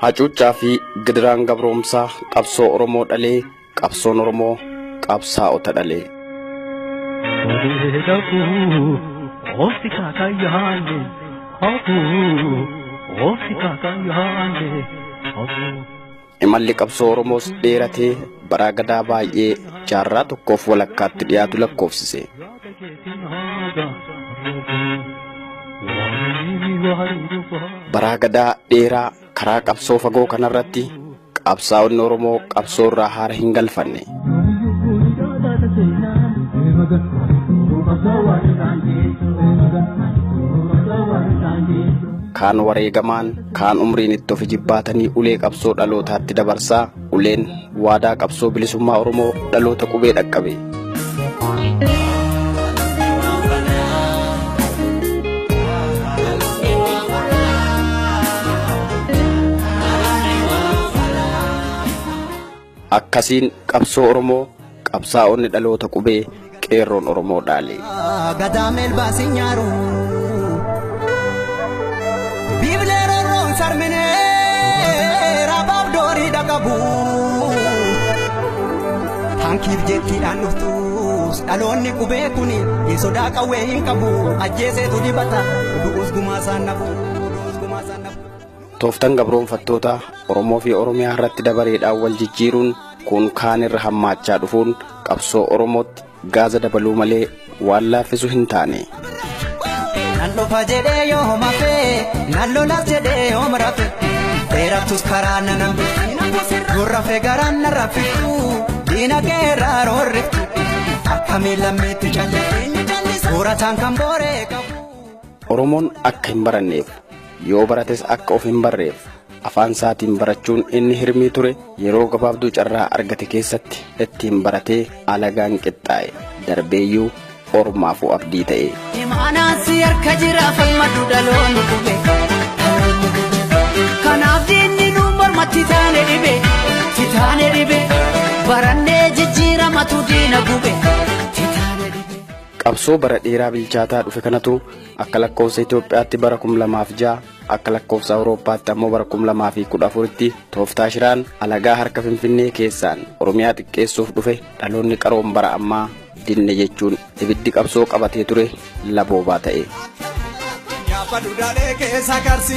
hacuuccaa fi gidiraan gabroomsaa qabsoo oromoo dhalee qabsoon oromoo qabsaa'ota dhalee Ofti kaka yaale, hopu, ofti kaka yaale, hopu. Imalli qabsoo Oromoos dheeratee baraa gadaa baay'ee jaarraa tokkoof walakkaatti dhiyaatu lakkoofsise. Baraa gadaa dheeraa karaa qabsoo fagoo kanarratti qabsaa'onni Oromoo qabsoo irraa haara hin galfanne. Kaan wareegamaan, Kaan umriin itti of ijibbaatanii ulee qabsoo dhalootaatti dabarsaa uleen waadaa qabsoo bilisummaa Oromoo dhaloota qubee dhaqqabe. Akkasiin qabsoo Oromoo qabsaa'onni dhaloota qubee qeerroon Oromoo dhaale. Gadaa melbaa si nyaaru. Biiblee rorroon sarminee rabaaf doorii dhaqabu. Hankiif jettiidhaan dhuftus dhaloonni qubee kuni hin sodaa qawwee hin qabu. Ajjeeseetu dibata du'us gumaa isaan nafu. Tooftan gabroonfattoota Oromoo fi Oromiyaa irratti dabareedhaan wal jijjiiruun kun kaan irra hammaachaa dhufuun qabsoo Oromootti gaaza dabaluu malee waan laaffisu hin taane. Nan dhufa jedhee yoo homafe nan lolas jedhee yoo murafe dheerattus karaa nan hambiftu gurrafe garaan nan raffiftu diina kee irraa roorriftu akkamii lammeetti callisu suurataan kan booree qabu. Oromoon akka hin baranneef Yoo barates akka of hin barreef afaan isaatiin barachuun inni hirmii ture yeroo gabaabduu carraa argate keessatti ittiin baratee alagaan qixxaa'e darbeeyyuu ormaafuu abdii ta'e. Imaanaan si harka jira falmadhu dhaloonni kube. Kanaaf diinni nu morma titaane dhibe titaane dhibe barannee jijjiiramatu diina gube. Qabsoo bara dheeraa bilchaataa dhufe kanatu Akka lakkoofsa Itoophiyaatti bara 2006 akka lakkoofsa Awurooppaatti ammoo bara 2014tti tooftaa shiraan alagaa harka Finfinnee keessaan Oromiyaa xiqqeessuuf dhufe dhaloonni qaroon bara ammaa dinne jechuun ibiddi qabsoo qabatee ture laboobaa ta'e. Nyaapa dudaalee keessa karsi.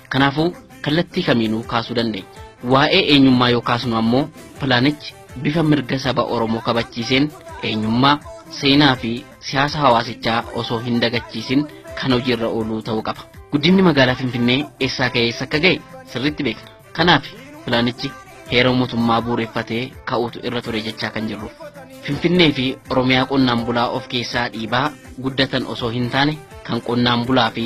Kanaafuu, kallattii kamiinuu kaasuu dandeenya. Waa'ee eenyummaa yoo kaasnu ammoo pilaanichi bifa mirga saba Oromoo kabachiiseen eenyummaa, seenaa fi siyaasa hawaasichaa osoo hin dagachiisin kan hojiirra ooluu ta'uu qaba. Guddinni magaalaa Finfinnee eessaa ka'ee eessa akka ga'e sirriitti beekna. Kanaafi pilaanichi heera mootummaa bu'uureffatee ka'uutu irra ture jechaa kan jirruuf. Finfinnee fi Oromiyaa qonnaan bulaa of keessaa dhiibaa guddatan osoo hin taane kan qonnaan bulaa fi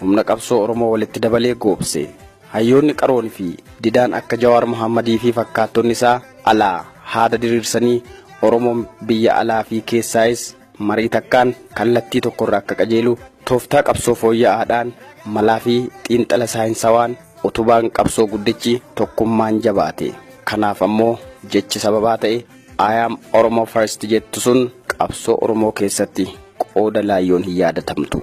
Humna qabsoo Oromoo walitti dabalee goobse. Hayyoonni qaroon fi didaan akka Jawaar Mohaammadii fi fakkaattonni isaa alaa haada diriirsanii Oromoon biyya alaa fi keessaayis marii takkaan kallattii tokkorra akka qajeelu tooftaa qabsoo fooyya'aadhaan malaa fi xiinxala saayinsawaan utubaan qabsoo guddichi tokkummaan jabaate. Kanaaf ammoo jechi sababaa ta'e I am Oromo first jettu sun qabsoo Oromoo keessatti qooda laayyoon hin yaadatamtu.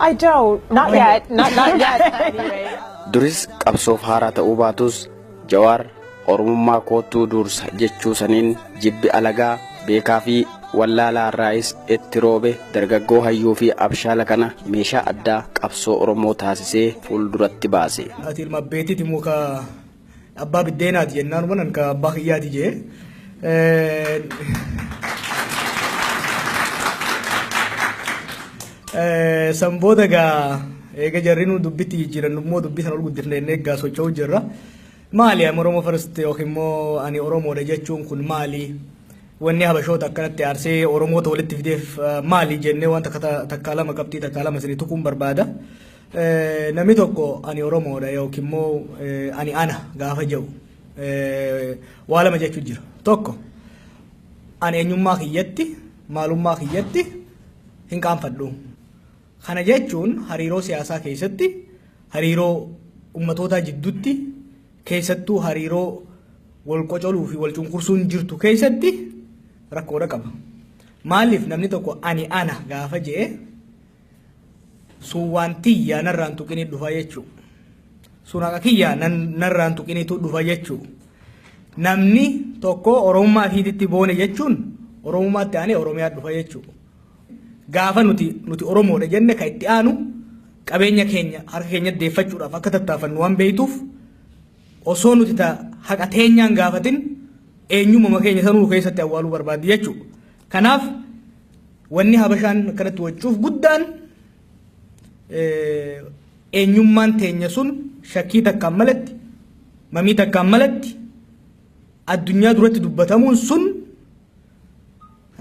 I don't. Not yet. Not not yet. Anyway. Duris qabsoof haaraa ta'uu baatus Jawaar Oromummaa koottuu duursa jechuu saniin jibbi alagaa beekaa fi wallaalaa irraayis itti roobe dargaggoo hayyuu fi abshaala kana meeshaa addaa qabsoo Oromoo taasisee fuulduratti baase. Ati ilma abbeetiti muka Abbaa biddeenaati jennaan manan ka abbaa kiyyaati jee. San booda gaa eega jarri nu dubbitti jijjiirannu immoo dubbii sana ol guddifne inni egaa socho'u jirra. Maali amma Oromoo first yookiin immoo ani Oromoodha jechuun kun maali? Wanni Habashoota akkanatti aarsee Oromoota walitti fideef maali jennee waan takka lama qabxii takka lama isinii tuquun barbaada. Namni tokko ani Oromoodha yookiin immoo ani ana gaafa jedhu waa lama jechuun jira. Tokko ani eenyummaa kiyyatti maalummaa kiyyatti hin qaanfadhu. Kana jechuun hariiroo siyaasaa keessatti hariiroo ummatootaa jidduutti keessattuu hariiroo wal qocoluu fi wal cunqursuun jirtu keessatti rakkoodha qaba. Maaliif namni tokko ani ana gaafa jedhe sun waan tiyya narraan tuqini dhufa jechu sun haqa kiyya narraan tuqinitu dhufa jechu namni tokko oromummaa fiititti boone jechuun oromummaatti aanee oromiyaa dhufa jechu gaafa nuti nuti oromoodha jenne kan itti aanu qabeenya keenya harka keenya deeffachuudhaaf akka tattaafannu waan beektuuf osoo nuti ta haqa teenyaan gaafatin eenyummaa keenya sanuu keessatti awwaaluu barbaaddi jechuudha. Kanaaf wanni Habashaan akkanatti waccuuf guddaan eenyummaan teenya sun shakkii takkaan malatti mamii takkaan malatti addunyaa duratti dubbatamuun sun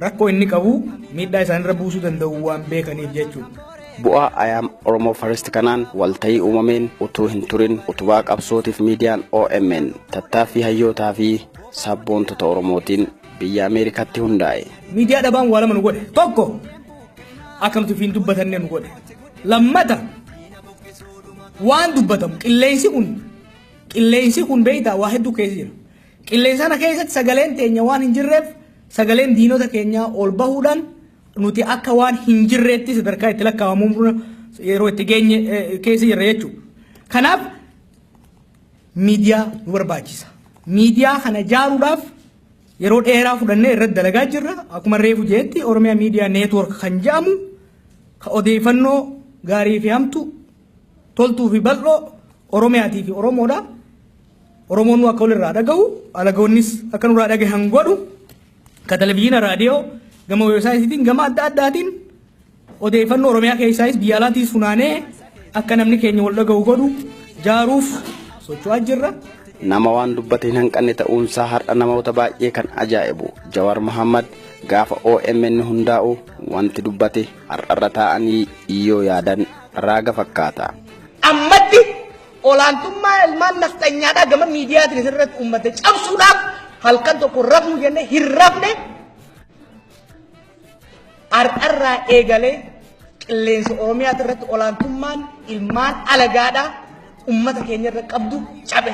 rakkoo inni qabu miidhaa isaanirra buusuu danda'u waan beekaniif jechuudha. Bu'aa Ayaam Oromoo Farist kanaan walta'ii uumameen utuu hin turin utubaa qabsootiif miidiyaan OMN tattaaffii hayyootaa fi sabboontota Oromootiin biyya Ameerikaatti hundaa'e. Miidiyaa dhabaan waa lama nu godhe. Tokko akka nuti ofiin dubbatanne nu godhe. Lammata waan dubbatamu qilleensi kun qilleensi kun beektaa waa hedduu keessa jira. Qilleensa kana keessatti sagaleen teenya waan hin jirreef sagaleen diinota keenyaa ol bahuudhaan nuti akka waan hin jirreetti sadarkaa itti lakkaa'amuun yeroo itti geenye keessa jirra jechuudha. Kanaaf miidiyaa nu barbaachisa. Miidiyaa kana ijaaruudhaaf yeroo dheeraa fudhannee irratti dalagaa jirra. Akkuma reefu jeetti Oromiyaa Miidiyaa Neetwoork kan jedhamu ka odeeffannoo gaarii fi hamtu toltuu fi bal'oo Oromiyaatii fi Oromoodha. Oromoon nu akka walirraa dhagahu alagoonnis akka nurraa dhagahan godhu ka televizyiina raadiyoo gama weebsaayitiitiin gama adda addaatiin Odeeffannoo Oromiyaa keessaayis biyya alaatiis funaanee akka namni keenya wal dhaga'u godhu jaaruuf socho'aa jirra. Nama waan dubbate hin hanqanne ta'uunsaa har'a namoota baay'ee kan ajaa'ibu Jawar Muhammad gaafa OMN hundaa'u wanti dubbate har'arra taa'anii yoo yaadan raaga fakkaata. Ammatti olaantummaa ilmaan nafxanyaadhaa gama miidiyaatiin irratti uummate cabsuudhaaf halkan tokko rafnu jennee hin rafne Har'arraa eegalee qilleensa Oromiyaa irratti olaantummaan ilmaan alagaadhaa ummata keenya irra qabdu cabe.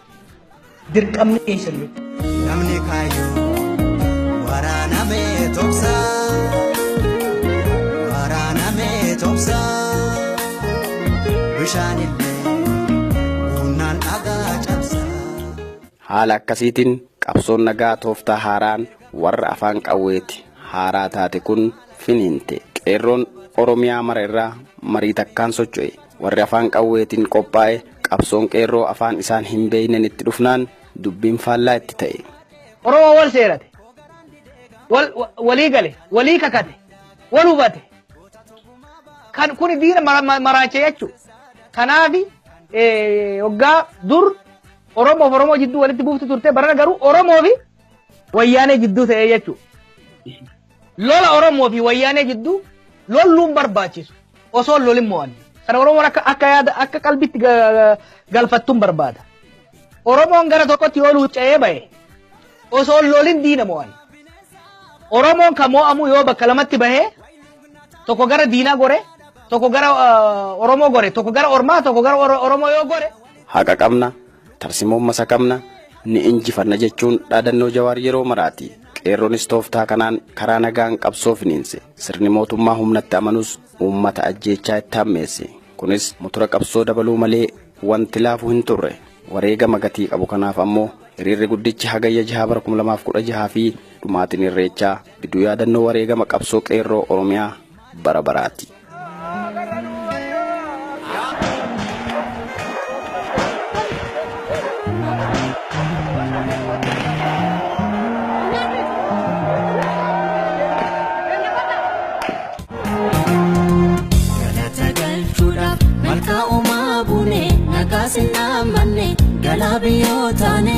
Dirqamni keessan yoo namni kaayyoo waraanamee tobsa waraanamee tobsa bishaan illee humnaan dhagaa cabsa. Haala akkasiitiin qabsoon nagaa tooftaa haaraan warra afaan qawweeti haaraa taate kun finiinte. Qeerroon Oromiyaa mara irraa marii takkaan socho'e. Warri afaan qawweetiin qophaa'e qabsoon qeerroo afaan isaan hin beekneen itti dhufnaan dubbiin faallaa itti ta'e. Oromoo wal seerate, wal walii gale, walii kakate, wal hubate. Kan kuni diina mara- ma- maraacha jechuu. Kanaafi eh, hoggaa dur Oromoof Oromoo jidduu walitti buuftu turte barana garuu Oromoo fi Wayyaanee jidduu ta'ee jechuu. Lola Oromoo fi Wayyaanee jidduu lolluun barbaachisu. Osoo hin lolin mo'anne. Kana Oromoon akka akka yaada akka qalbitti ga- galfattuun barbaada. Oromoon gara tokkotti yoo luucca'ee ba'e osoo hin lolin diina mo'anne. Oromoon kan mo'amu yoo bakka lamatti bahee tokko gara diinaa gore tokko gara ah, Oromoo gore tokko gara Ormaa tokko gara Oro- Oromoo yoo gore haqa qabna Tarsimoon masakamna, ni injifanna jechuun dhaadannoo Jawaar yeroo maraati. Qeerroonis tooftaa kanaan karaa nagaan qabsoo finiinse. Sirni mootummaa humnatti amanus uummata ajjeechaa itti hammeesse. Kunis mutura qabsoo dabaluu malee wanti laafu hin turre. Wareegama gatii qabu kanaaf ammoo hiriirri guddichi Hagayya 6 bara 2016 fi dhumaatiin Irreechaa gidduu yaadannoo wareegama qabsoo Qeerroo Oromiyaa bara baraati. Galata galchuudhaaf malkaa uumaa buune nagaa sinnaa manne galaa biyyoo taane.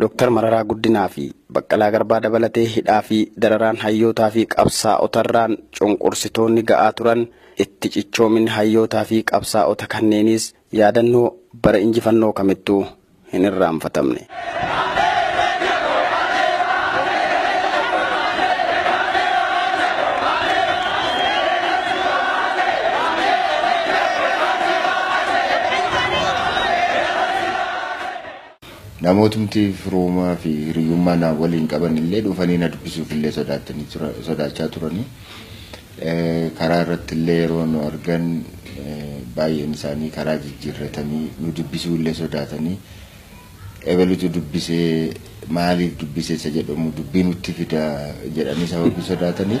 Dr. Mararaa Guddinaa fi Baqqalaa Garbaa dabalatee hidhaa fi dararaan hayyootaa fi qabsaa'otarraan cunqursitoonni ga'aa turan itti cichoominni hayyootaa fi qabsaa'ota kanneeniis yaadannoo bara injifannoo kamittuu hin irraanfatamne. Namootmti firooma fi hiriyyummaa na waliin qaban illee dhufanii na dubbisuuf illee sodaatanii tura, sodaachaa turanii. Karaa irratti illee yeroo nu argan baay'een isaanii karaa jijjiirratanii nu dubbisuu illee sodaatanii ebelutu dubbisee maaliif dubbisee isa jedhamu dubbii nutti fida jedhanii sababii sodaatanii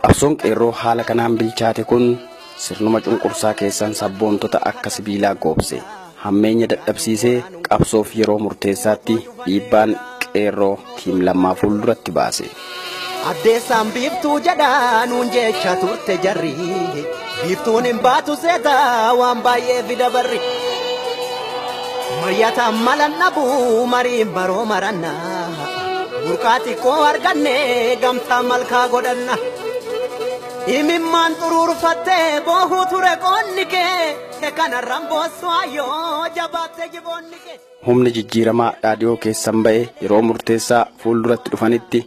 Qabsoon qeerroo haala kanaan bilchaate kun sirnuma cunqursaa keessan sabboontota akka sibiilaa goobse. Hammeenya dadhabsiisee qabsoof yeroo murteessaatti dhiibbaan qeerroo tiim lammaa fuulduratti baase. Addeessaan biiftuu jedhaa nuun jecha turte jarri. Biiftuun hin baatu seeta waan baay'ee fida barri. Mari'ata malan dhabu mariin baroo maranna. Burqaa xiqqoo arganne gamtaa malkaa godhanna. Imimmaan xuruurfattee boohuu ture qoonni kee. Te kanarraan boossu ayyoo jabaatte jiboonni kee. Humni jijjiiramaa dhaadhiyoo keessan ba'e yeroo murteessaa fuulduratti dhufanitti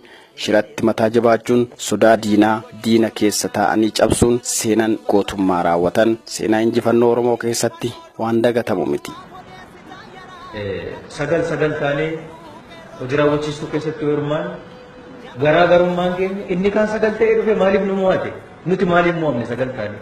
Shiratti mataa jabaachuun sodaa diinaa diina keessa taa'anii cabsuun seenan gootummaa raawwatan seenaa injifannoo Oromoo keessatti waan dagatamu miti. 9, 9 taanee hojii raawwachiistuu keessatti yoo hirmaannu garaa garummaan keenya inni kaan 9 ta'ee dhufe maaliif nu mo'ate? Nuti maaliif mo'amne 9 taanee?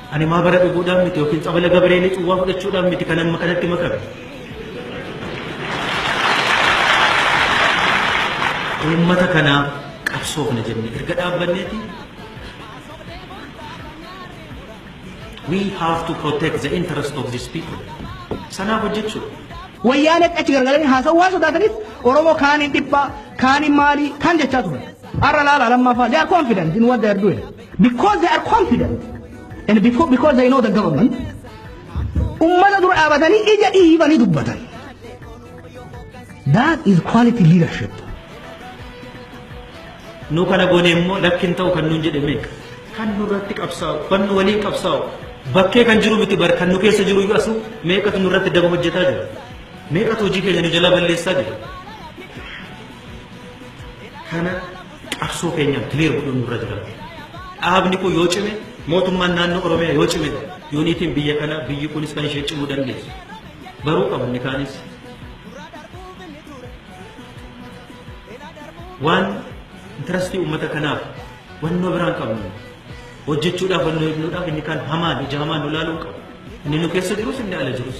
Ani maabara dhuguudhaan miti yookiin tsabala Gabireelii cuwwaa fudhachuudhaan miti kan amma kanatti makame. Uummata kanaaf qabsoofna jennee erga dhaabbanneeti we have to protect the interest of these people. Sanaaf hojjechuudha. Wayyaanee achi gargalanii haasa'uu waan sodaataniif Oromoo kaaniin dhibbaa, kaaniin maalii, kaan jechaa turan. Har'a laala lammaffaa they are confident in what they are doing. Because they are confident and before, because they know the government ummata dura dhaabatanii ija dhiibanii dubbatan. That is quality leadership. nu kana goone immoo lakkin ta'u kan nuun jedhe meeqa kan nurratti qabsaa'u kan nu waliin qabsaa'u bakkee kan jiru miti bar kan nu keessa jiru iyyuu asu meeqatu nurratti daba hojjetaa jira meeqatu hojii keenya nu jalaa balleessaa jira kana Qabsoo keenyaan clear godhuun nurra jira. Dhaabni kun yoo cime mootummaan naannoo Oromiyaa yoo cime yuuniitiin biyya kana biyyi kunis kan ishee cimuu dandeessu. Baruu qabu inni kaanis. Waan intarastii uummata kanaaf wannoo biraan qabnu hojjechuudhaaf wannoo eegnuudhaaf inni kaan hamaan ija hamaan nu ilaaluu qabu. Inni nu keessa jirus inni ala jirus.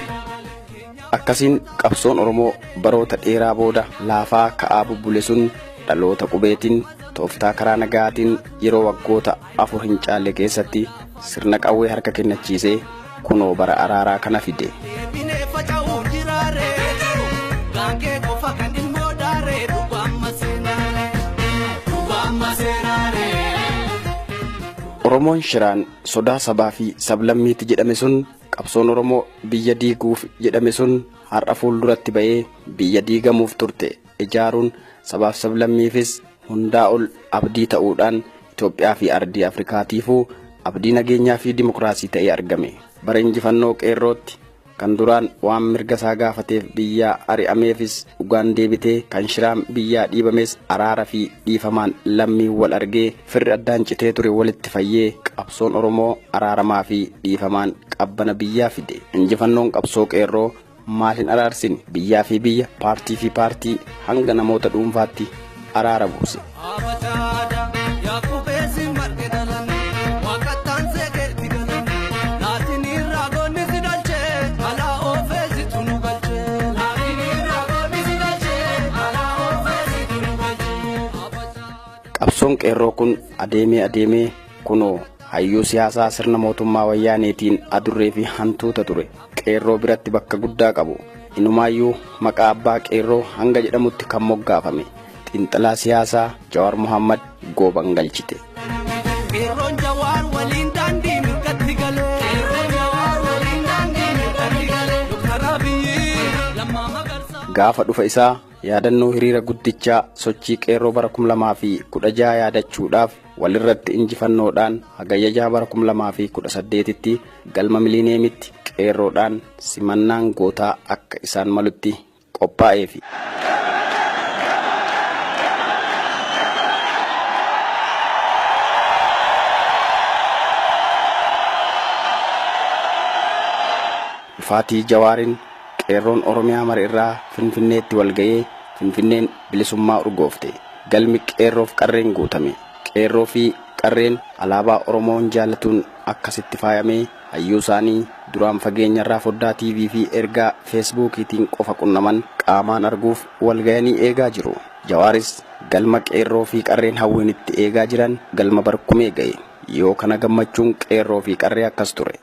Akkasiin qabsoon Oromoo baroota dheeraa booda laafaa ka'aa bubbule sun dhaloota qubeetiin tooftaa karaa nagaatiin yeroo waggoota afur hin caalle keessatti sirna qawwee harka kennachiisee kunoo bara araaraa kana fide. Oromoon shiraan sodaa sabaa fi sablammiitti jedhame sun Qabsoon Oromoo biyya diiguuf jedhame sun har'a fuulduratti ba'ee biyya diigamuuf turte ijaaruun sabaaf sablammiifis hundaa ol abdii ta'uudhaan Itoophiyaa fi ardii Afrikaatiifuu abdii nageenyaa fi dimokiraasii ta'ee argame. Bara injifannoo qeerrootti kan duraan waan mirga isaa gaafateef biyyaa ari'ameefis dhugaan deebitee kan shiraan biyyaa dhiibames araara fi dhiifamaan lammiin wal argee Firri addaan citee ture walitti fayyee, qabsoon Oromoo araaramaa fi dhiifamaan qabbana biyyaa fide. Injifannoon qabsoo Qeerroo maal hin araarsine? Biyyaa fi biyya, paartii fi paartii, hanga namoota dhuunfaatti araara buuse. Qabsoon qeerroo kun adeemee adeemee kunoo hayyuu siyaasaa sirna mootummaa wayyaaneetiin adurree fi hantuuta ture qeerroo biratti bakka guddaa qabu inumaayyuu maqaa abbaa qeerroo hanga jedhamutti kan moggaafame xiinxalaa siyaasaa Jawaar Muhammad gooban galchite. Qeerroon Jawaar waliin daandii mirgatti galee. Qeerroon Jawaar waliin daandii mirgatti galee. Doktar Abiyyi lammaa magarsaa. Gaafa dhufa isaa Yaadannoo hiriira guddichaa sochii qeerroo bara 2016 yaadachuudhaaf walirratti injifannoodhaan hagayya 6 bara 2018tti galma miliineemitti qeerroodhaan simannaan gootaa akka isaan malutti qophaa'eefi. Dhufaatii Jawaariin Qeerroon Oromiyaa mara irraa Finfinneetti wal ga'ee Finfinneen bilisummaa urgoofte. Galmi Qeerroof Qarreen guutame. Qeerroo fi Qarreen alaabaa Oromoon jaallatuun akkasitti faayamee hayyuu isaanii duraan fageenyarraa foddaa TV fi ergaa Feesbuukiitiin qofa qunnaman qaamaan arguuf wal gayanii eegaa jiru. Jawaaris galma Qeerroo fi Qarreen hawwiin itti eegaa jiran galma Barkumee ga'e. Yoo kana gammachuun qeerroo fi qarree akkas ture.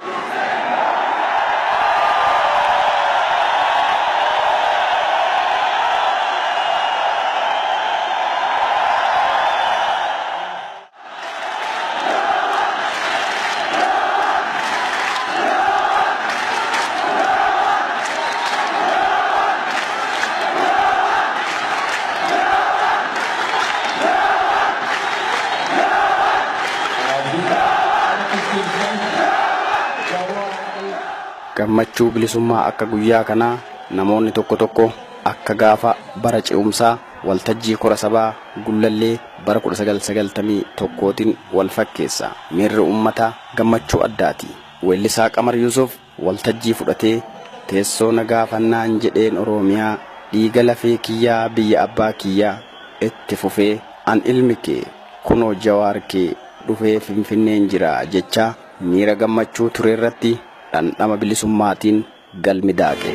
Gammachuu bilisummaa akka guyyaa kanaa namoonni tokko tokko akka gaafa bara ce'umsaa waltajjii kora sabaa Gullallee bara 1991tiin wal fakkeessa. Miirri uummataa gammachuu addaati. Weellisaa Qamar Yuusuf waltajjii fudhatee teessoo na gaafannaan jedheen Oroomiyaa dhiiga lafee kiyyaa biyya abbaa kiyyaa itti fufee an ilmi kee kunoo Jawaar kee dhufee Finfinneen jira jechaa miira gammachuu tureerratti dhandhama bilisummaatiin galmi daake.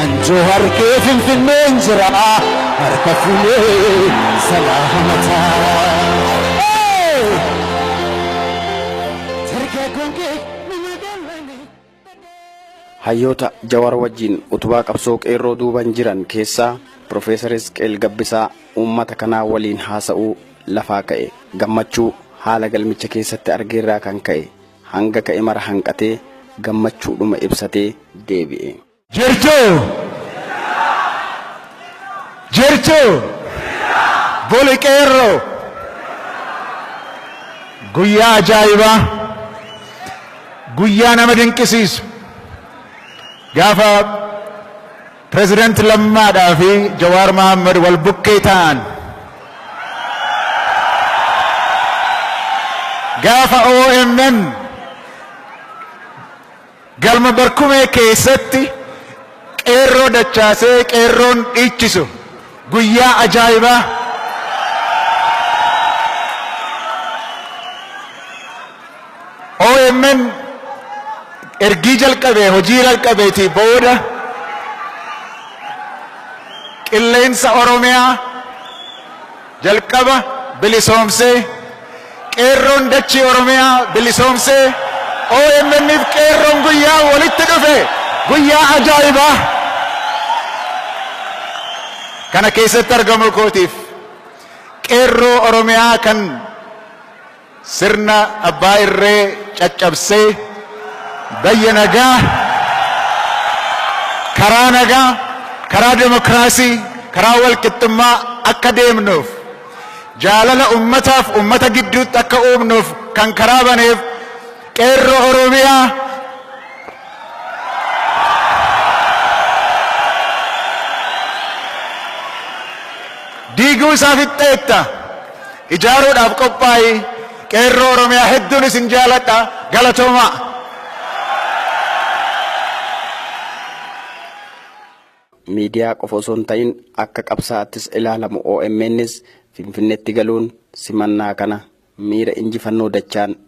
An Johar kee Finfinneen jira harka fuunee salaamataa. Dargaggoon kee nama gallanii. Hayyoota Jawar wajjin utubaa qabsoo qeerroo duuban jiran keessaa Profeesar Hisqeel Gabbisaa uummata kanaa waliin haasa'uu lafaa ka'e. Gammachuu haala galmicha keessatti argeerraa kan ka'e hanga ka'e mara hanqatee gammachuudhuma ibsatee deebi'e. Jirtuu? Jirtuu? Goli qeerroo! Guyyaa ajaa'ibaa! Guyyaa nama dinqisiisu! Gaafa Pireezidaanti Lammaadhaa fi Jawaar Mahaammad wal bukkee ta'an gaafa OMN Galma Barkumee keessatti Qeerroo dachaasee Qeerroon dhiichisu guyyaa ajaa'ibaa OMN ergii jalqabee hojii jalqabeetii booda qilleensa Oromiyaa Jalqaba bilisoomsee, Qeerroon dachii Oromiyaa bilisoomsee, omn fi Qeerroon guyyaa walitti dhufe guyyaa ajaa'ibaa kana keessatti argamuu kootiif Qeerroo Oromiyaa kan Sirna abbaa irree caccabsee bayya nagaa karaa nagaa karaa demokraasii karaa walqixxummaa akka deemnuuf jaalala ummataaf ummata gidduutti akka uumnuuf kan karaa baneef qeerroo oromiyaa diiguu isaa fixxeetta. ijaaruudhaaf qophaa'i qeerroo oromiyaa hedduun isin jaaladha galatoomaa. miidiyaa qofa osoo hin ta'in akka qabsaa'attis ilaalamu OMNs Finfinneetti galuun simannaa kana miira injifannoo dachaan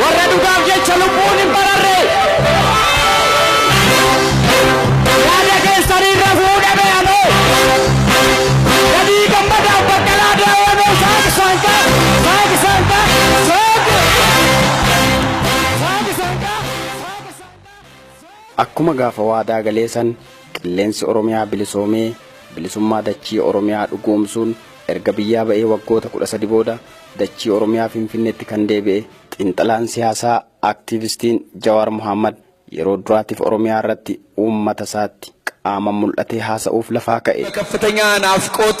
Warra dhugaaf jecha lubbuun hin bararre. Yaada keessaniin rafuu dhabe anoo. Gadii gammadaaf baqqalaa daawwanoo saaq saanqa saaq saanqa saaq. Saaq saanqa saaq saanqa. Akkuma gaafa waadaa galee san Qilleensi Oromiyaa bilisoomee bilisummaa dachii Oromiyaa dhugoomsuun erga biyyaa ba'ee waggoota 13 booda dachii Oromiyaa Finfinneetti kan deebi'e xiinxalaan siyaasaa Aktiivistiin Jawaar Mohaammad yeroo duraatiif Oromiyaa irratti uummata isaatti qaaman mul'atee haasa'uuf lafaa ka'e. Bakaftanya Naafqoot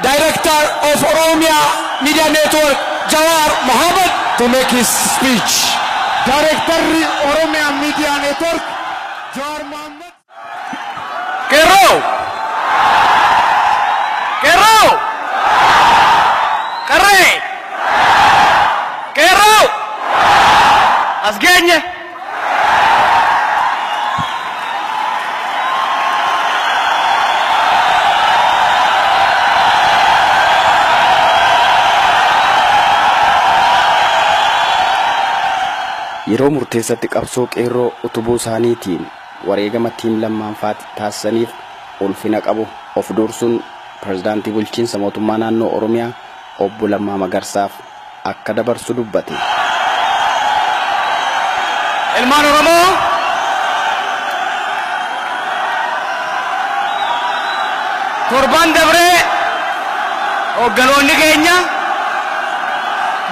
Director of Oromia Media Network Jawar Mohammed to make his speech. Daarektarri Oromiyaa Miidiyaa Neetwork Jawaar Mohammed. Qeerroo! Qeerroo! Qarree! Qeerroo! As geenye! Yeroo murteessatti qabsoo qeerroo utubuu isaaniitiin wareegama Team Lammaan faati taasisaniif ulfina qabu of duursuun Pirezidaantii Bulchiinsa Mootummaa Naannoo Oromiyaa Obbo Lammaa Magarsaaf akka dabarsu dubbate. Ilmaan Oromoo torban dabree hoogganoonni keenya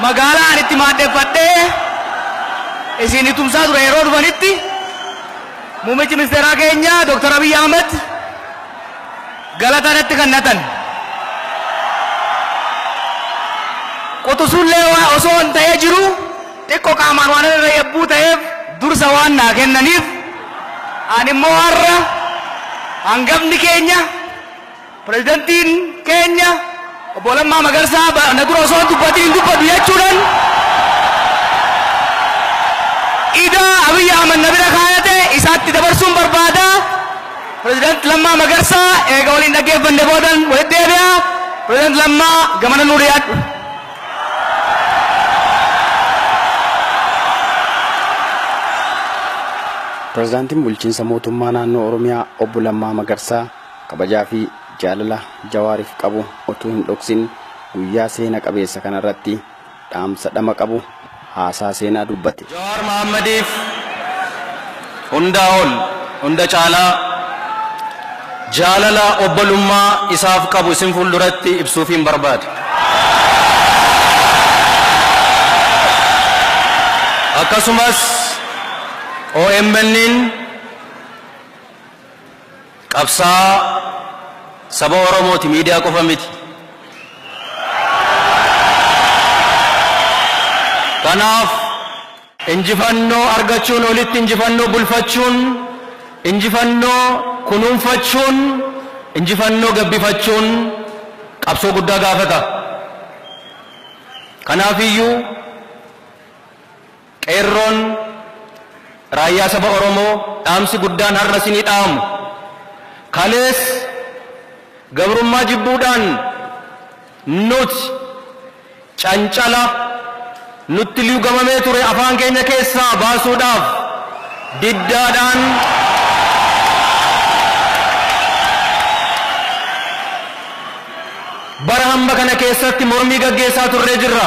magaalaa ani itti maadheffadhee isin tumsaa ture yeroo dhufanitti muummichi ministeeraa keenya Dr. Abiy Ahmed Galata natti kannatan. Quxusuun Leewaa osoo an ta'ee jiruu xiqqo qaamaan waanan irra yabbuu ta'eef dursa waan naa kennaniif ani immoo har'a hangafni keenya, pirezidantiin keenya, Obbo Lammaa Magarsaa ba na dura osoo hin dubbatin hin dubbadhu jechuudhan idaa Abiy Ahmed na bira kaayate isaatti dabarsuun barbaada. President Lammaa Magarsaa eega waliin dhaggeeffanne boodan walitti deebi'a. President Lammaa gamana nuu dhiyaadhu. Prezidaantiin Bulchiinsa Mootummaa Naannoo Oromiyaa Obbo Lammaa Magarsaa Kabajaa fi jaalala Jawaarif qabu otuu hin dhoksin guyyaa seena qabeessa kanarratti dhaamsa dhama qabu haasaa seenaa dubbate. Jawaar Mahaammadiif hundaa ol, hunda caalaa jaalala obbolummaa isaaf qabu isin fuulduratti ibsuufiin barbaada. Akkasumas OMN'n. Qabsaa'aa saba Oromooti miidiyaa qofa miti. Kanaaf injifannoo argachuun olitti injifannoo bulfachuun, injifannoo kunuunfachuun, injifannoo gabbifachuun qabsoo guddaa gaafata. Kanaafiyyuu. Qeerroon Raayyaa Saba Oromoo dhaamsi guddaan har'a isinii dhaamu, kalees gabrummaa jibbuudhaan nuti cancala nutti liugamamee ture afaan keenya keessaa baasuudhaaf diddaadhaan bara hamma kana keessatti mormii gaggeessaa turree jirra.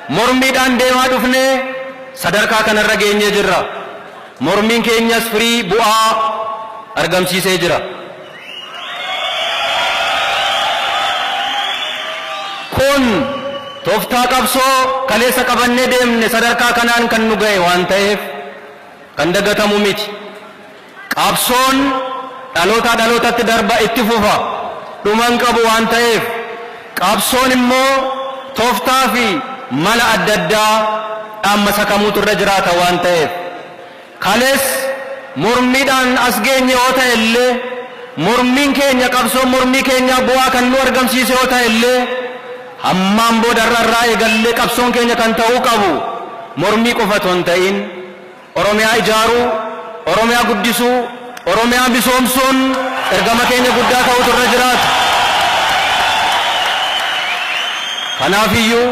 Mormiidhaan deemaa dhufnee sadarkaa kanarra geenyee jirra. Mormiin keenyas firii, bu'aa, argamsiisee jira. Kun toftaa qabsoo kaleessa qabannee deemne sadarkaa kanaan kan nu gahe waan taheef kan dagatamu miti. Qabsoon dhalootaa dhalootatti darba itti fufa, dhuma hin qabu waan ta'eef. Qabsoon immoo toftaa fi mala adda addaa dhaammasa kamuutu irra jiraata waan ta'eef. Kalees mormiidhaan as geenye yoo ta'e illee, mormiin keenya, qabsoon mormii keenyaa bu'aa kan nuu argamsiise yoo ta'e illee, hammaan booda har'a irraa eegallee qabsoon keenya kan ta'uu qabu mormii qofa otoo hin ta'iin, Oromiyaa ijaaruu, Oromiyaa guddisuu, Oromiyaa misoomsuun ergama keenya guddaa ta'uutu irra jiraata. Kanaafiyyuu,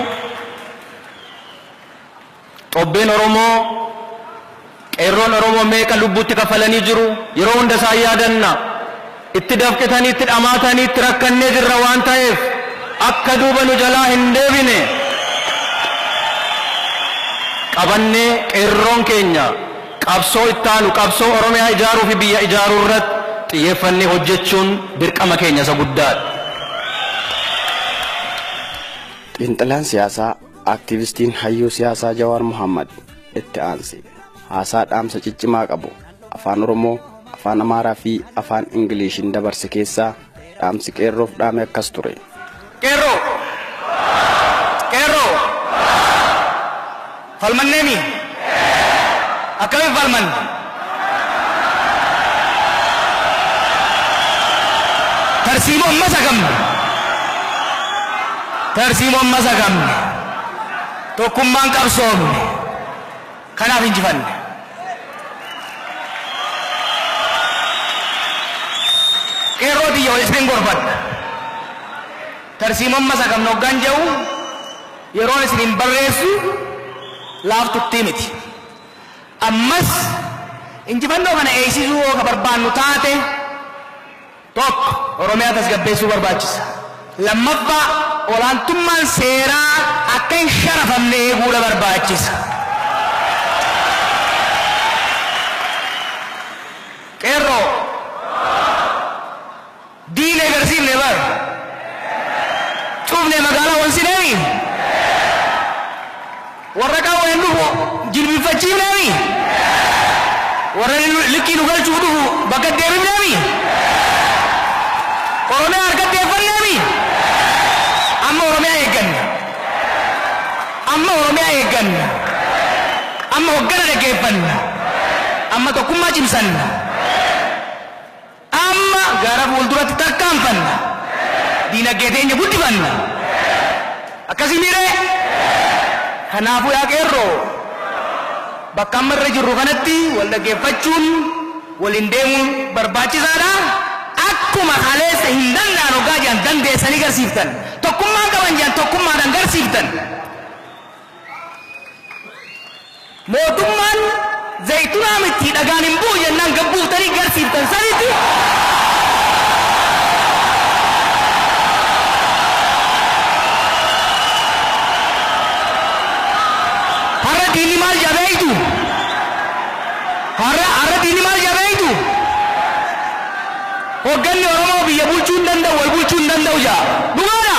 Xobbeen Oromoo, Qeerroon Oromoo meeqa lubbuutti kaffalanii jiru? Yeroo hunda isaan yaadanna. Itti dafqitanii itti dhamaatanii itti rakkannee jirra waan taheef akka duuba nu jalaa hin deebine qabannee qeerroon keenya qabsoo ittaanu qabsoo Oromiyaa ijaaruu fi biyya ijaaruu irratti xiyyeeffannee hojjechuun dirqama keenya isa guddaa dha. Xiinxalaan siyaasaa Aktiivistiin Hayyuu Siyaasaa Jawaar Mohaammad itti aansi haasaa dhaamsa ciccimaa qabu Afaan Oromoo, Afaan Amaaraa fi Afaan Ingiliishiin dabarse keessaa dhaamsi qeerroof dhaame akkas ture. Qeerroo! Qeerroo! Falmanneemi! Akkamiin falmanne? Tarsiimoo amma sagamne! Tarsiimoo amma sagamne! Tokkummaan qabsoofne! Kanaaf injifanne. Qeerroo tiyya wal isinin gorfadha. Tarsiimoon masakamna hoggaan je'u yeroon isiniin barreessu laaftuttii miti. Ammas injifannoo kana eeysisuu yoo ka barbaannu taate, Tokko, Oromiyaa tasgabbeessuu barbaachisa. Lammaffaa, olaantummaan seeraa akka hin sharafamne eeguudha barbaachisa. Qeerroo! Diine garsiifne bar! Cufne magaalaa onsineemi? Warra qawween dhufu jilbiffachiifnee mii? Warra likkii nu galchuuf dhufu bakka deebifnee mii? Oromiyaa harkatti eeffannee mii? Amma Oromiyaa eegganna. Amma Oromiyaa eegganna. Amma hoggana dhaggeeffanna. Amma tokkummaa cimsanna. Amma gara fuulduratti tarkaanfanna. Diinaggee teenya guddifanna. Akkasii miiree? Kanaafuu yaa qeerroo, bakka amma irra jirru kanatti wal dhaggeeffachuun, waliin deemuun barbaachisaadha. Akkuma kaleessa hin danda'an oggaa jedhan dandeessanii garsiiftan, tokkummaa hin qaban jedhan tokkummaadhaan garsiiftan. Mootummaan zaytunaa mittii dhagaan hin bu'u jennaan gad buuftanii garsiiftan sanitti har'a diinni maal jedha beektu? Har'a har'a diinni maal jedha beektu? Hogganni Oromoo biyya bulchuu hin danda'u, wal bulchuu hin danda'u jedha. Dhugaadha?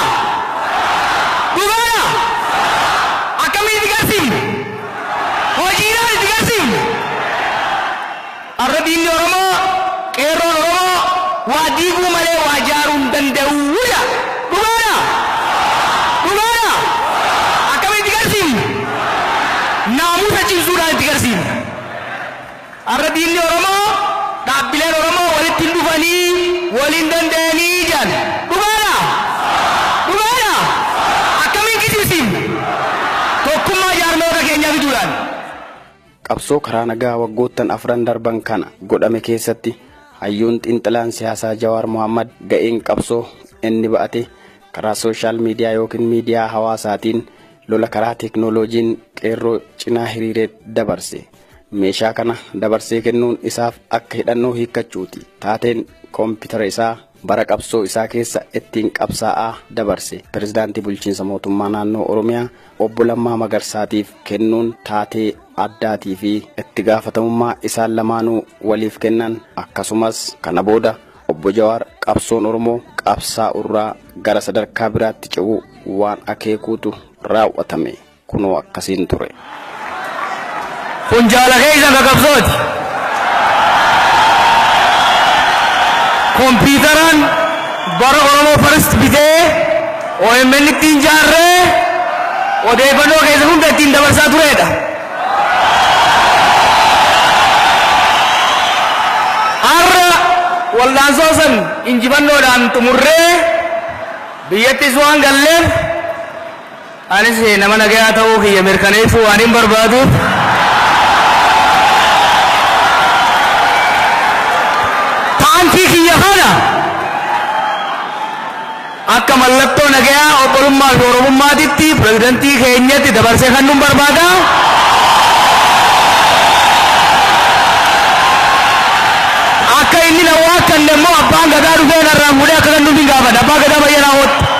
Dhugaadha? Akkamiin itti garsiifne? Hojiidhaan itti garsiifne. Har'a diinni Oromoo, qeerroon Oromoo waa diiguu malee waa jaaruu hin danda'u jedha. Dhugaadha? Dhugaadha? Akkamiin itti garsiifne? Naamusa cimsuudhaan itti garsiifne. Arra diinni Oromoo dhaabbileen Oromoo walitti hin dhufanii, wal hin dandayanii jedhan. Dhugaadhaa? Dhugaadhaa? Akkamiin kijibsiifna? Tokkummaa jaarmayoota keenyaa fiduudhaani. Qabsoo karaa nagaa waggoottan afran darban kana godhame keessatti hayyuun xiinxalaan siyaasaa Jawaar Mohaammad ga'een qabsoo inni ba'ate karaa sooshaal miidiyaa ykn miidiyaa hawaasaatiin lola karaa teeknooloojiin qeerroo cinaa hiriireet dabarse. meeshaa kana dabarsee kennuun isaaf akka hidhannoo hiikkachuuti. Taateen koompitara isaa bara qabsoo isaa keessa ittiin qabsaa'aa dabarse pirezidaantii bulchiinsa mootummaa naannoo Oromiyaa obbo Lammaa Magarsaatiif kennuun taatee addaatii fi itti gaafatamummaa isaan lamaanuu waliif kennan akkasumas kana booda obbo Jawaar qabsoon Oromoo qabsaa'urraa gara sadarkaa biraatti ce'uu waan akeekuutu raawwatame. Kunoo akkasiin ture. Kun jaala keessan ka qabsooti. Kompiitaraan bara Oromoo First bitee OMN ittiin jaarree odeeffannoo keessa hunda ittiin dabarsaa tureedha. Har'a wal'aansoo san injifannoodhaan xumurree biyyattis waan galleef Anis nama nagayaa ta'uu kiyya mirkaneessuu waanin barbaaduuf paantii kiyya kana akka mallattoo nagayaa, obbolummaa fi Oromummaatitti pirezidantii keenyatti dabarsee kannuun barbaada. Akka inni na waakkanne immoo abbaan gadaa dhufee narraan fuudhee akka kannuuf hin gaafadha. Abbaa gadaa bayyanaa hootti.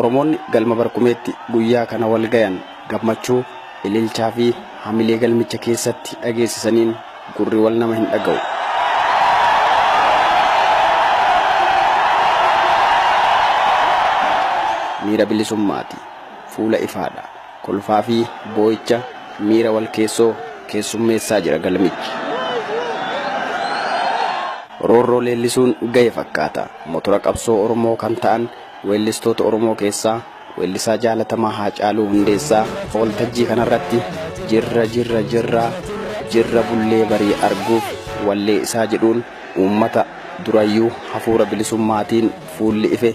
Oromoonni galma Barkumeetti guyyaa kana wal gayan gammachuu, ililchaa fi hamilee galmicha keessatti dhageessisaniin gurri wal nama hin dhaga'u. Miira bilisummaati. Fuula ifaadha. Kolfaa fi boo'icha miira walkeessoo keessummeessaa jira galmichi. Roorroo leellisuun gahe fakkaata. Motora qabsoo Oromoo kan ta'an weellistoota Oromoo keessaa weellisaa jaalatamaa Haacaaluu Hundeessaa waltajjii kanarratti Jirra jirra jirra jirra bullee barii arguuf wallee isaa jedhuun uummata durayyuu hafuura bilisummaatiin fuulli ife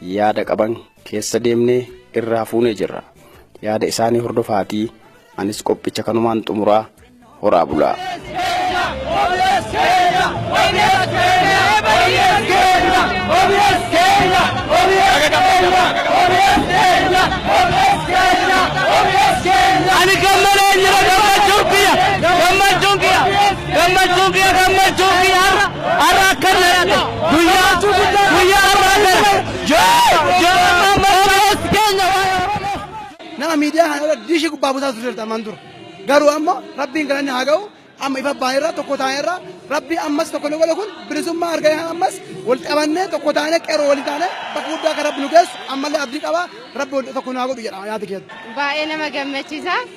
yaada qaban keessa deemnee irraa fuunee jirra. Yaada isaanii hordofaatii anis qophicha kanumaan xumuraa horaa bulaa. Ani gammalee jira gammachuun kiyya gammachuun kiyya. Gammachuu kiyya gammachuu kiyya har'a har'a akkan dhalate guyyaa guyyaa har'aa gara Jawaar Jawaar Mohammad Obboleessi keenya waa'ee Oromoo. nama miidiyaa kana irra diishii gubbaa buusaa turte ammaan dura. Garuu ammoo rabbiin galanni haa ga'u amma ifa baane irra tokko taane irra rabbi ammas tokko nu godhe kun bilisummaa argame kana ammas wal qabannee tokko taane qeerroo waliin taane bakka guddaa akka rabbi nu geessu ammallee abdii qaba rabbi wal tokko nu haa godhu jedha yaada keessatti. Baay'ee nama gammachiisa.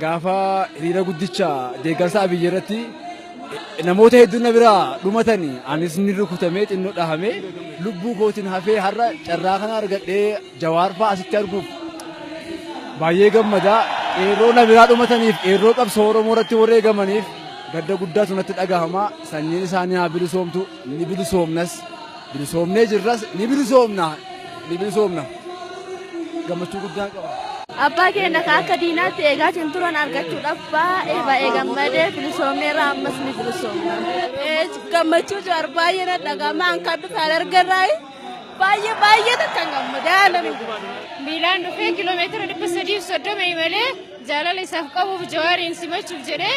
Gaafa hiriira guddicha deeggarsa Abiy irratti namoota hedduun na biraa dhumatanii anis ni rukutamee xinnoo dhahamee lubbuu kootiin hafee har'a carraa kana argadhee Jawaar fa'aa asitti arguuf baay'ee gammadaa qeerroo na biraa dhumataniif qeerroo qabsoo Oromoo irratti wareegamaniif gadda guddaatu natti dhagahama sanyiin isaanii haa bilisoomtu ni bilisoomnas. Bilisoomnee jirras ni bilisoomna ni bilisoomna gammachuu guddaan qaba. Abbaa keenya ka akka diinaatti eegaa hin turan argachuudhaaf baay'ee baay'ee gammadee bilisoomeera ammas ni bilisoomna. Gammachuu jawaar baay'ee na dhaga'ama an kan dhufe an argarraa baay'ee baay'ee takkan gammade haalan Miilaan dhufee kiiloomeetira dhibba sadii fi soddoma imalee jaalala isaaf qabuuf jawaariin simachuuf jedhee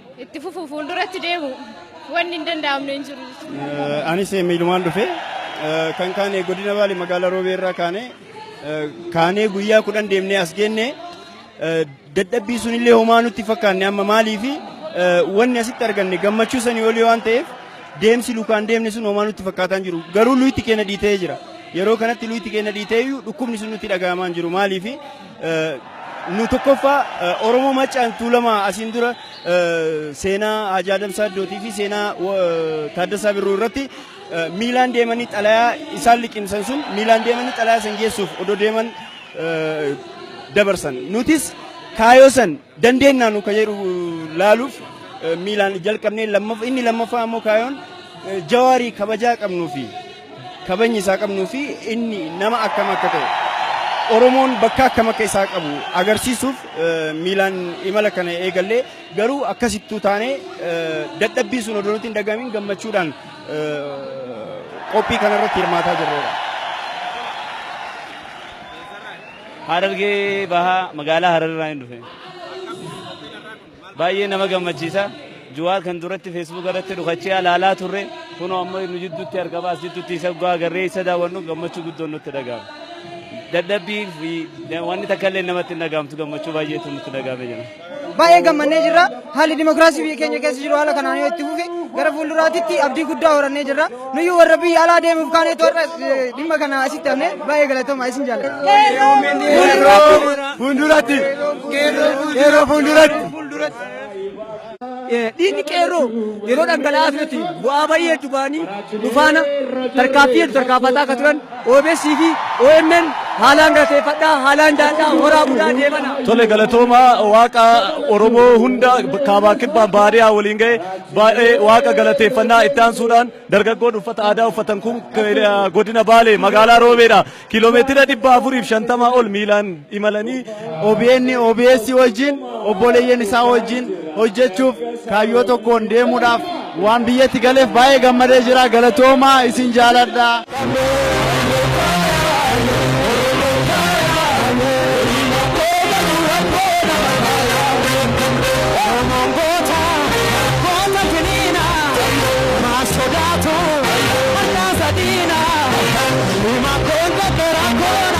Itti fufu fuulduratti deemu wanni hin danda'amne hin jiru. Eh, Anis eh, miilumaan dhufe Eh, kan kaane godina baale magaalaa roobee irraa kaane Eh, kaanee guyyaa kudhan deemnee as geenne Eh, dadhabbii sunillee homaa nutti fakkaanne amma maaliifi eh, wanni asitti arganne gammachuu sanii olii waan ta'eef deemsi lukaan deemne sun homaa nutti fakkaataa hin jiru garuu luyitti keenya dhiitee jira yeroo kanatti luyitti keenya dhiitee iyyuu dhukkubni sun nutti dhaga'amaa hin jiru maaliifi Nu tokkoffaa Oromoo Maccaan Tuulamaa asiin dura seenaa Haji Adam Saaddootii fi seenaa Taaddasaa Birruu irratti miilaan deemanii xalayaa isaan liqimsan sun miilaan deemanii xalayaa san geessuuf odoo deeman dabarsan. Nutis kaayoo san dandeennaa nu ka jedhu laaluuf miilaan jalqabnee lammaf inni lammaffaa ammoo kaayoon jawaarii kabajaa qabnuu fi kabajni isaa qabnuu fi inni nama akkam akka ta'e Oromoon bakka akkam akka isaa qabu agarsiisuuf miilaan imala kana eegallee garuu akkasittuu taanee dadhabbii sun odoo nutti hin dhaga'amin gammachuudhaan qophii kanarratti hirmaataa jirrudha. Harargee bahaa magaalaa Hararirraa hin dhufe. Baay'ee nama gammachiisa. Juwaar kan duratti feesbuuka irratti dhukachee alaalaa turre kunoo amma nu jidduutti argama as jidduutti isa dhugaa agarree isa daawwannu gammachuu guddoon nutti dhaga'ama. Dadhabbii fi wanni takka illee namatti hin dhaga'amtu gammachuu baay'eetu nutti dhaga'ame jira. Baay'ee gammannee jirra. Haalli dimokiraasii biyya keenya keessa jiru haala kanaan yoo itti fufe gara fuulduraatitti abdii guddaa horannee jirra. Nuyyuu warra biyya alaa deemuuf kaanee toorra dhimma kana asitti hafnee baay'ee galatooma isin jaalladha. Fuulduratti. Yeroo fuulduratti. Dhiigni qeerroo yeroo dhangala'aa turetti bu'aa baay'ee hedduu ba'anii nufaana tarkaanfii hedduu tarkaanfataa akka turan OBS fi omn haalaan galateeffadha, haalaan jaaladha, horaa bulaa deebana. Tole galatoomaa waaqa Oromoo hunda kaabaa kibbaan baadiyaa waliin ga'e baay'ee waaqa galateeffannaa itti aansuudhaan dargaggoon uffata aadaa uffatan kun godina Baalee magaalaa Roobeedha kiiloomeetira dhibba afuriif shantamaa ol miilaan imalanii OBN, OBS wajjin obboleeyyan isaa wajjin hojjechuuf kaayyoo tokkoon deemuudhaaf waan biyyatti galeef baay'ee gammadee jira galatoomaa isin jaaladha.